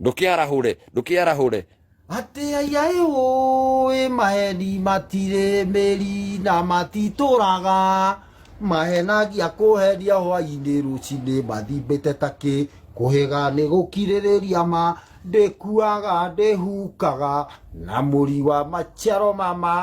ndũkĩarahũre ndũkĩarahũre atĩ aiai ũĩ maeni matirĩ mĩri na matitũraga mahenagia kũhenia hwainĩ rũcinĩ mathimbĩte takĩ kũhĩga nĩ gũkirĩrĩria ma ndĩkuaga ndĩhukaga na mũri wa maciaro mama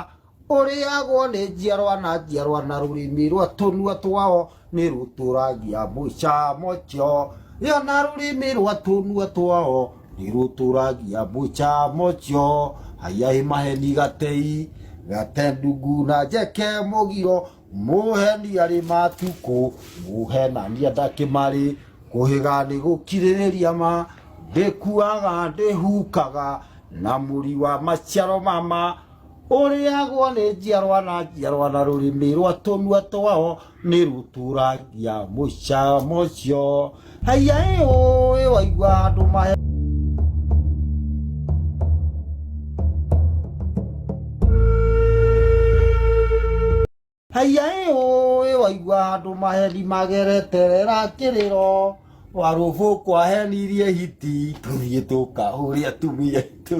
ũrĩagwo nĩ njiarwa na njiarwa na rũrĩmĩ rwa tũnua twao nĩ rũtũragia mũcamo cio rĩo na rũrĩmĩ rwa tũnua twao nĩ rũtũragia mũcamo cio haiya ĩ maheni gatei gate ndungu na njeke mũgiro mũheni arĩ matukũ mũhenania ndakĩmarĩ kũhĩga nĩ gũkirĩrĩria ma ndĩkuaga ndĩhukaga na mũri wa maciaro mama ũrĩagwo nĩ njiarwa na njiarwa na rũrĩmĩ rwa tũnua twao nĩ rũtũrangia mũcamo ũcio haiya ĩ ũĩ waigua andũ mahe Haiya ĩ ũĩ waigua andũ maheni magereterera kĩrĩro warũbũ kwahenirie hiti tũthiĩ tũkahũrĩ atumia aitũ